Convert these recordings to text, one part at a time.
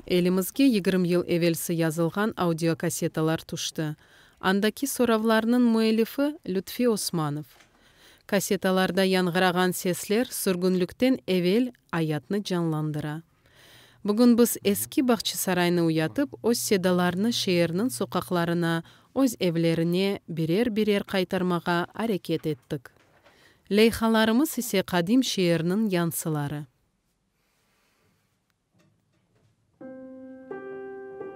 Elimizge yigirmi yıl evelsi yazılğan audiokassetalar tüşti. Andaki soravlarnıñ müellifi, Lütfi Osmanov. Kassetalarda yañğırağan sesler sürgünlikten evel ayatnı canlandıra. Bugün biz eski Bağçasaraynı uyatıp, öz sedalarını şeerniñ soqaqlarına, öz evlerine birer-birer qaytarmağa areket ettik. Leyhalarımız ise qadim şeerniñ yansıları.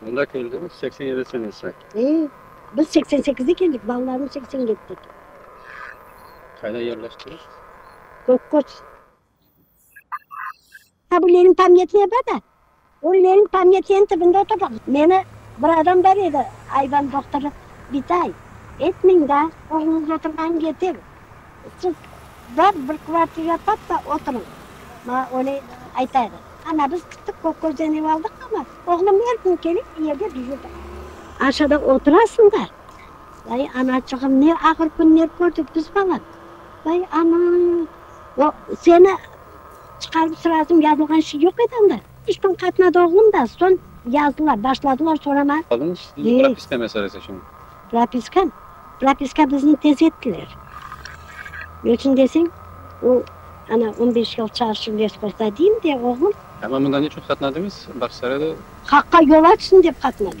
Mında keldiñiz seksen yedi senesi. E, biz seksen sekizde keldik, balalarım seksen yetide keldi. Qayda yerleştiñiz? Kökköz. Ha, bu Lenin pamyatnıy bar da, o Lenin pamyatnıyıñ tibinde oturdıq. Meni bir adam bar edi, ayban doktorı, Bitay, etmiñ da, oğluñız oturğanı yeter, Tip, bar bir kvartira tap da oturıñ, maña öyle ayta edi. Ana, biz kittik, köp közden ev aldıq, amma oğlum er kün kelip, bu yerde duzıdı. Aşağıda oturasıñ da, vay, anaçığım, ne ağır künler kördik biz balam. Vay, ana, o, seni çıqarıp sırasıñ yazılğan şey yoq edi anda. İşten qaytmadı oğlum da, soñ yazdılar, başladılar soramağa. Propiska meselesi içün. Propiska, propiska bizni tez ettiler. Ne içün deseñ, o, ana, on beş yıl çalışıp lespozda deyim de, oğlum. Amma mında ne içün qatnadıñız, Bağçasarayda? Haqqa yol açsın dep qatnadım.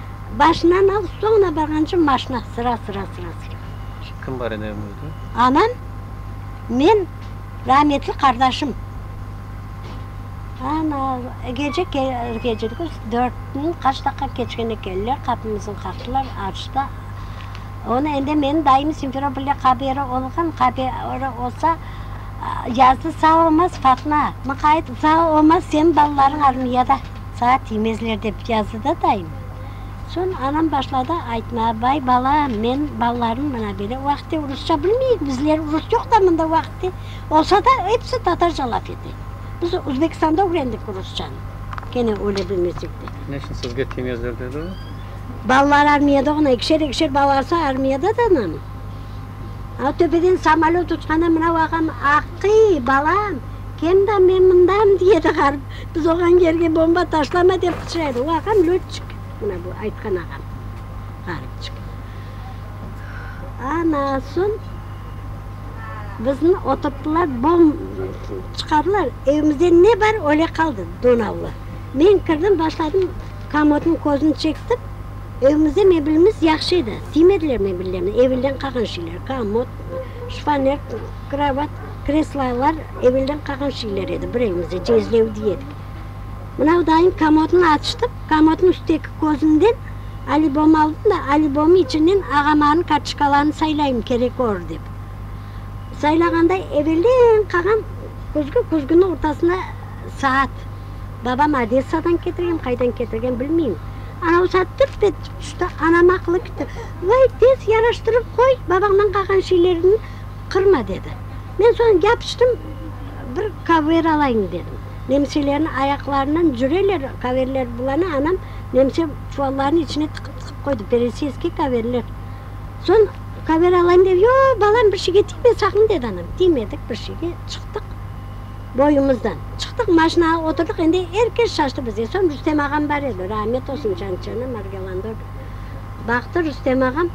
Başınan al, soñuna barğanca maşna, sıra, sıra, sıra, sıra. Şimdi kim bar edi evimizde? Anam, men, rahmetli qardaşım. Ana, gece gecirdik, dörtniñ qaç daqqa keçkende keldiler, qapımızın qaqtılar, açtı. Onı endi menim dayım Simferopolda qaberi olğan, qaberi olsa, yazdı, sağ olmaz, Fatma, muqayet, sağ olmaz, senin balalarıñ armiyada. saat yemezler dep yazdı da dayım. Soñ anam başladı aytma, bay bala, men balalarım mına bele vaqıtte urusça bilmeyik, bizler urus yoq da mında vaqıtte, olsa da episi tatarca laf ete. Biz Uzbekistanda ögrendik urusçanı, kene öyle bilmesek de. Ne içün sizge tiymezler dedi o? Balalar armiyada oğna, ekişer ekişer balalarsa armiyada da nam. A töpeden samolöt uçqanda mına vaqam, aqıy, balam, kem da men mındam, diye edi ğarip. Biz oğan yerge bomba taşlama dep qıçıraydı. O ağam lötçik, mına bu aytqan ağam, ğaripçik. Ana soñ bizni oturttılar, bom çıqardılar, evimizde ne bar, öyle qaldı, donavlı. Men kirdim, başladım, komodnıñ közün çektim, evimizde mebelimiz yahşı edi, tiymediler mebellerni, evelden qalğan şeyler, komod, şifoner. Kravat, kreslolar evelden qalğan şeyler edi, bir evimizde cezlevdi edik. Mınau dayım komodnı açtı, komodnıñ üstteki közünden alibom aldım da, alibomnıñ içinden ağamanıñ kartçıkalarını saylayım kerek olur dep. Saylağanda evelden qalğan küzgü, küzgüniñ ortasında saat. Babam Odessadan ketirgen, qaydan ketirgen bilmeyim. Anau saat tırt etip tüşti, anam aqılı kitti. Vay, tez yaraştırıp qoy, babañdan qalğan şeylerni. Qırma, dedi. Men soñ yapıştım, bir kaver alayıñ, dedim. Nemselerniñ ayaqlarından cüreler, kaverler bulana, anam nemse çuvallarnıñ içine tıqıp-tıqıp qoydı, peresiyskiy kaverler. Soñ kaver alayım dep, yo, balam, bir şeyge tiyme saqın, dedi anam. Tiymedik bir şeyge, çıqtıq boyumızdan. Çıqtıq, maşinağa oturdıq, endi er kes şaştı bizge. Soñ Rustem ağam bar edi, rahmet olsun, canı içerne, Margelandorda. Baqtı Rustem ağam.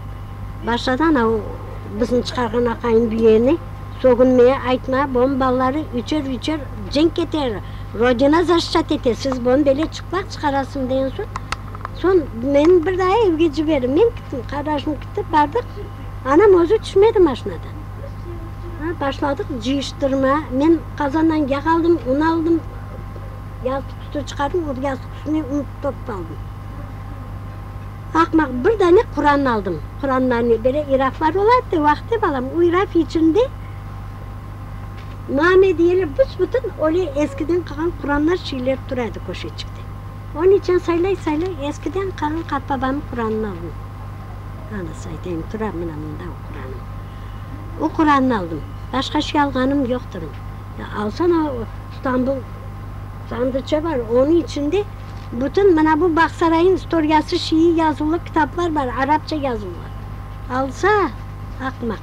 Başladan o bizni çıqarğan aqayın büyüğeni, Sögünmeye aytma, boñ balaları üçer-üçer cenk keter, Rodina zaşşat ete, siz boñ bele çıplaq çıqarasıñ degen soñ, soñ meni bir daa evge ciberdi. Men kittim, qarajım kitti, bardıq, anam özü tüşmedi maşinadan. Ha, başladıq cıyıştırma, men qazandan yağ aldım, un aldım, yastıq üstü çıqardım, o yastıq üstüne un topıp aldım. Aqmaq, bir dane Quran aldım. Quranlarnı böyle iraflar olardı, vaqti balam, o iraf içinde name diyeler, büs-bütün öyle eskiden qalğan Quranlar şeyler tura edi köşeçikte. Onıñ içün saylay-saylay eskiden qalğan qartbabamnıñ Quranını aldım. Anası aytayım, tura mına mında o Quranım. O Quranını aldım. Başqa şey alğanım yoqtır. Alsana, İstanbul sandıçe bar, onıñ içinde. Bütün mına bu Bağsarayıñ istoriyası şiiy yazuvlı kitaplar bar, arapça yazuvlı. Alsa, aqmaq.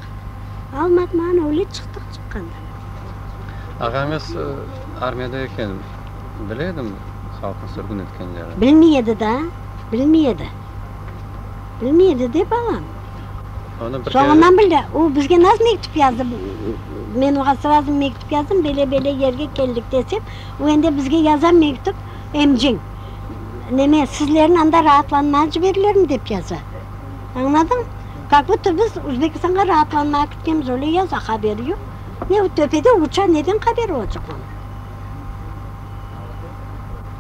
Almadı mı, ana, öyle çıqtıq çıqqandan. Ağañız armiyada eken, bile edi mi halqnı sürgün etkenlerin? Bilmey edi da, bilmey edi. Bilmey edi de, balam. Onı bir kere. Soñundan bildi. O bizge nasıl mektüp yazdı? Men oña srazı mektüp yazdım, bele-bele yerge keldik desem, o ende bizge yaza mektüp. emciñ, neme, sizlerni anda raatlanmağa ciberilirmi dep yaza. Añladıñ? Kak buta biz Uzbekistanğa raatlanmağa kitkemiz, öyle yaza, haberi yoq. Ne o töpede uça, neden haberi olacaq onıñ?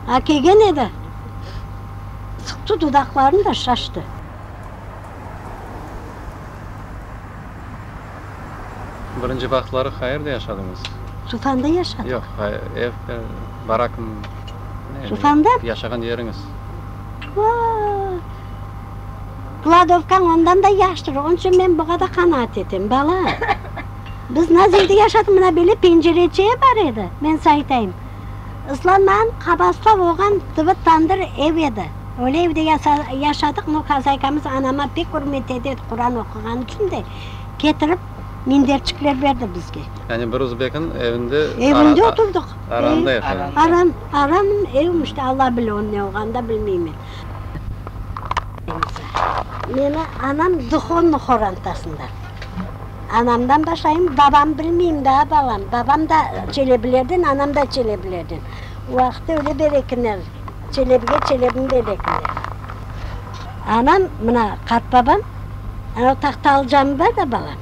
A kelgen edi, sıqtı dudaqlarını da şaştı. Birinci vaqıtları qayerde yaşadıñız? Tufanda yaşadıq. Yoq, ev, barakmı? Tufanda? Yaşağan yeriñiz. Vaa! Kladovkañ ondan da yaştır, onıñ içün men buğada qanaat etem, bala. Biz naz evde yaşadıq, mına böyle pencereçe bar edi, men sañ aytayım, ıslanmağan qaba ıslav olğan tıbı tandır ev edi. Öyle evde yaşadıq, no hazaykamız anama pek ürmet ederdi, Quran oquğanı içün de ketirip minderçikler berdi bizge. Yani bir uzbekin evinde Evinde oturdıq. aramda yaşadınız. Aram, aram evim işte, Alla bile onıñ ne olğanını da bilmeymen. Meni anam duhovnıy qorantasında. Anamdan başlayım, babam bilmeyim daa, balam. Babam da Çelebilerden, anam da Çelebilerden. O vaqıtta öyle berekiner. Çelebge çelebim belekinde. Anam, mına qartbabam, anav tahtalı camı bar da, balam,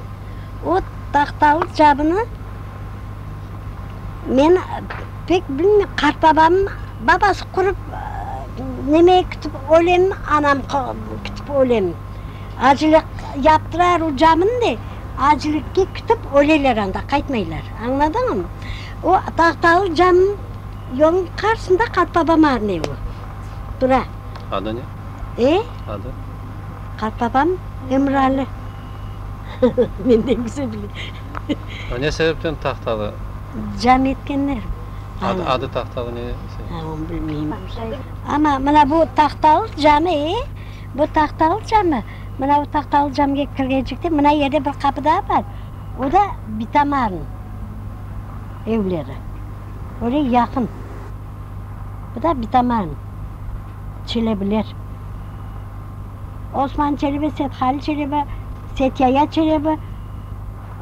o tahtalı camını men pek bilmem, qartbabamnıñ babası qurıp, neme kütüp ölemmi, anam kütüp ölemmi. Acele yaptırar o camını da, acelekke kütüp öleler anda, qaytmaylar. Añladıñmı? O tahtalı camnıñ. Yolnıñ qarsında qartbabam arney o, tura. Adı ne? E? Adı? Qartbabam Emralı. Menden güzel bile. A, ne sebepten Tahtalı? Cami etkenler. Adı, adı Tahtalı ne sebepten? A, onu bilmeyim. Amma mına bu Tahtalı cami, e, bu Tahtalı cami, mına bu Tahtalı camige kirgencekte mına yerde bir qapı daa bar, o da bitamarnıñ evleri. Öyle yaqın. Bu da bitaman Çelebiler. Osman Çelebi, Sethalil Çelebi, Setyaya Çelebi.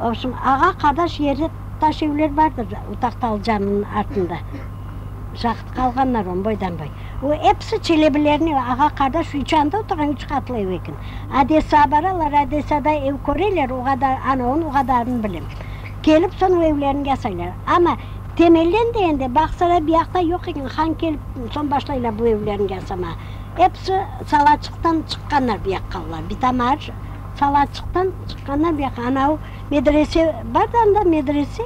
Obşun, ağa-qadaş yerli taş evler bardır o Tahtalı caminiñ artında. Şahit qalğanlar onı boydan-boy. O episi Çelebilerniñ ağa-qadaş üç anda oturğan üç qatlı ev eken. Odessağa baralar, Odessada ev köreler, o qadar, ana onı o qadarını bilem. Kelip soñra evlerini yasaylar. Amma temelden de endi Bağsaray buyaqta yoq eken, han kelip soñ başlaylar bu evlerini yasama. Episi Salaçıqtan çıqqanlar buyaqqa olar, Bitamar, Salaçıqtan çıqqanlar buyaqqa. Anavu medrese bar da anda, medrese,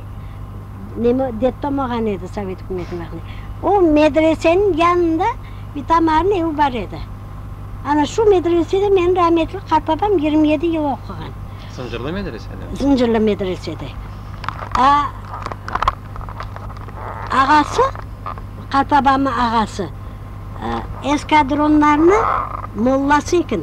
neme, detdom olğan edi sovet ükümetiniñ vaqtında. O medreseniñ yanında Bitamarnıñ evi bar edi. Ana şu medresede meniñ rahmetli qartbabam yigirmi yedi yıl oquğan. Zıncırlı medresede? Zıncırlı medresede. A, ağası, qartabamnıñ ağası, eskadronlarnıñ mollası eken.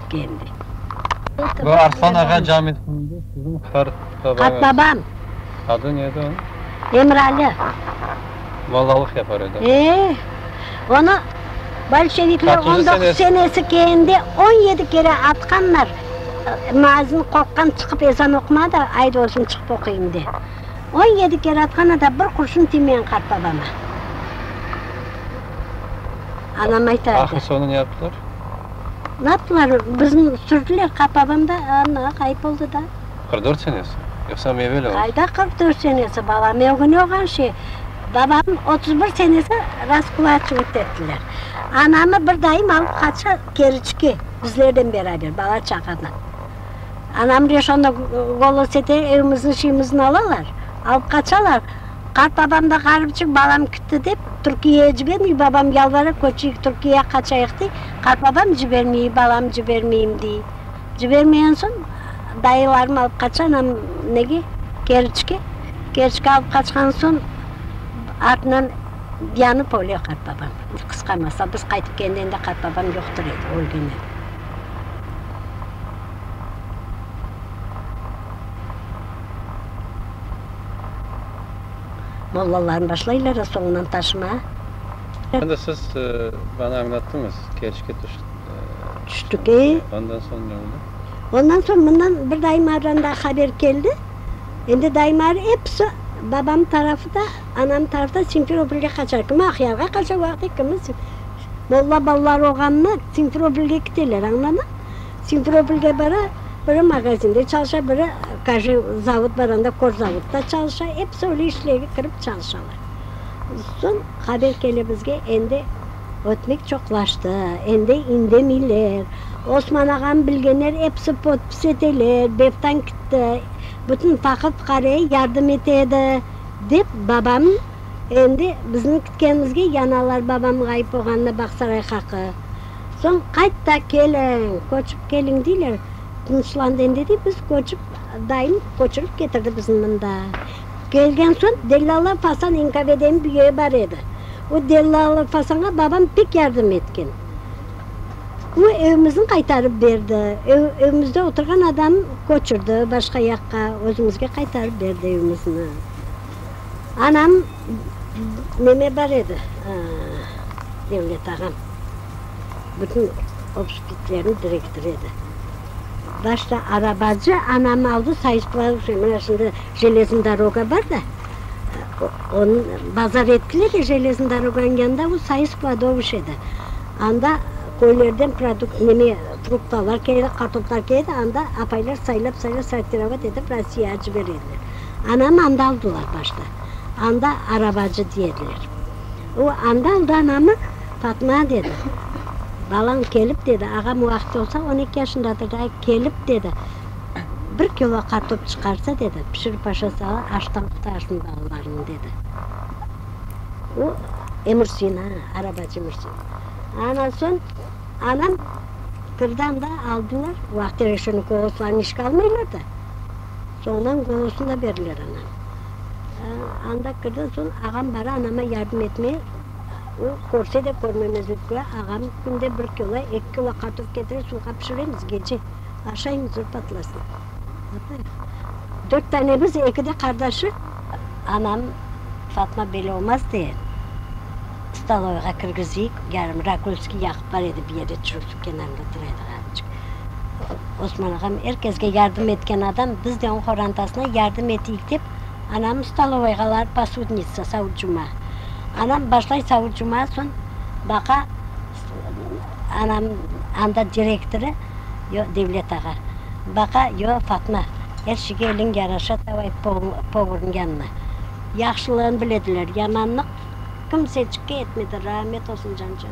keldi. Bu Arslan ağa camisinde siziñ qartbabañız. Qartbabam. Adı ne edi onıñ? Emrali. Mollalıq yapar edi. Eee, onı bolşevikler on doquz senesi kende on yedi kere atqanlar, müazzin qorqqan çıqıp ezan oquma da, ayt özüm çıqıp oquyım de. On yedi kere atqan ata bir qurşun tiymeyen qartbabama. Anam aytardı. Ahır soñu ne yaptılar? Laplar bizni sürdüler, qapabam da ana ğayıp oldı da. Qırq dört senesi? Yoqsa meveli oz? Qayda qırq dört senesi, balam, ögüne olğan şey. Babamnı otuz bir senesi raskulaçivıt ettiler. Anamı bir dayım alıp qaçtı Keriçke, bizlerden beraber, bala-çağadan. Anam Reşonda gol olsa da, evimizni, şeyimizni alalar, alıp qaçalar. Qartbabam da ğarip çıqıp, balam kitti dep, Türkiyeye cibermey, babam yalvara, köçeyik, Türkiyeye qaçayıq, dey. Qartbabam cibermey, balam cibermeyim, dey. Cibermegen soñ, dayılarım alıp qaça anam nege, Keriçke. Keriçke alıp qaçqan soñ, artından yanıp öle qartbabam. Qısqarmasa, biz qaytıp kelgende qartbabam yoqtur edi, ölgen edi. Mollalarnı başlaylar soñunan taşıma. Şimdi siz bana añlattıñız, kerişke tüştük. Ondan soñ ne oldı? Ondan soñ bundan bir dayımardan daa haber keldi. Endi dayımar episi babam tarafı da, anam tarafı da Simferopolge qaçar. Kimi Aqyarğa qaça vaqıt, kimi. Molla balalar oğanını Simferopolge kiteler, añladın? Simferopolge bara, biri magazinde çalışa, biri kaje zavod bar anda, korzavodda çalışa, episi öyle işlerge kirip çalışalar. Soñ haber kele bizge, endi ötmek çoqlaştı, endi indemeyler, Osman ağanı bilgenler episi podpis eteler, Bevtan kitti, bütün faqir-fuqaraya yardım ete edi, dep babam endi bizniñ. Keñizge yanalar babam ğayıp oğanına Bağsaray haqı. Soñ qayt da keliñ, köçip keliñ deyler. Tınıçlandı endi dey, biz köçip, dayım köçürip ketirdi bizni mında. Kelgen soñ Dellâlı Fasan İnkave degen bir öy bar edi. O Dellâlı Fasanğa babam pek yardım etken. O evimizni qaytarıp berdi. Evimizde oturğan adamı köçürdi başqa yaqqa, özümizge qaytarıp berdi evimizni. Anam neme bar edi, Devlet ağam, bütün obspitlerniñ direktorı edi. Başta arabacı anamı aldı sayısplavuş, mına şimdi Jelezniy doroga bar da, onıñ bazar ettiler ya, Jelezniy doroganıñ yanında o sayıspladovuş edi. Anda köylerden produkt, neme, fruktalar, kartoflar keledi, anda apaylar saylap-saylap sortirovat etip Rossiyağa ciberediler. Anamı anda aldılar başta. Anda arabacı diyediler. O anda aldı anamı, Fatma dedi, balañ kelip dedi, ağam o vaqıt olsa on eki yaşındadır da, kelip dedi, bir kilo qartof çıqarsa dedi, pişirip aşa sala, açtan qutarsın balalarıñ dedi. O Emursin, a, arabacı Emursin. Anan soñ anam kirdi anda, aldılar. O vaqıt Reşennikovlar falan işğe almaylar da. Soñdan golosını da berdiler aña. Anda kirden soñ ağam bari anama yardım etmeye, o, körse de körmemezlik köre, ağam künde bir kilo, eki kilo kartof ketire, suvğa pişiremiz, gece aşayımız zor patlasın. Dört tanemiz, eki de qardaşı. Anam, Fatma, böyle olmaz, de, stoloyğa kirgizeyik, yarım rakülski yaqıp bar edi, bir yerde, çürük suv kenarında turaydı, ğarıcık. Osman ağam er kesge yardım etken adam, biz de oñ qorantasına yardım eteyik dep, anamnı stolovoyğa alarıq posudnitsa, savut-cuma. Anam başlay savut-cuma, soñ baqa anam anda direktorı, yoq, Devlet ağa. Baqa, yoq, Fatma, er şeyge eliñ yaraşa, davay povornıñ yanına. Yahşılığını bilediler, yamanlıq kimsecikke etmediler, rahmet olsun, cancan.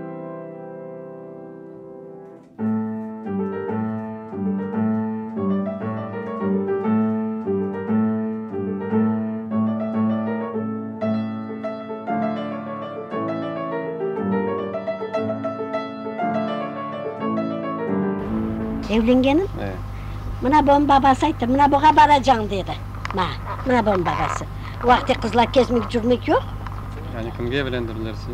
Evlengenim, mına bunıñ babası ayttı, mına buña baracañ, dedi maña. Mına bunıñ babası. O vaqıt qızlar kezmek, yürmek yoq. Yani kimge evlendirdiler sizni?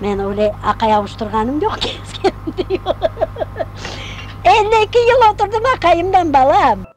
Men öyle aqay avuştırğanım yoq ki, iskenim de yoq. Elli eki yıl oturdım aqayımdan, balam.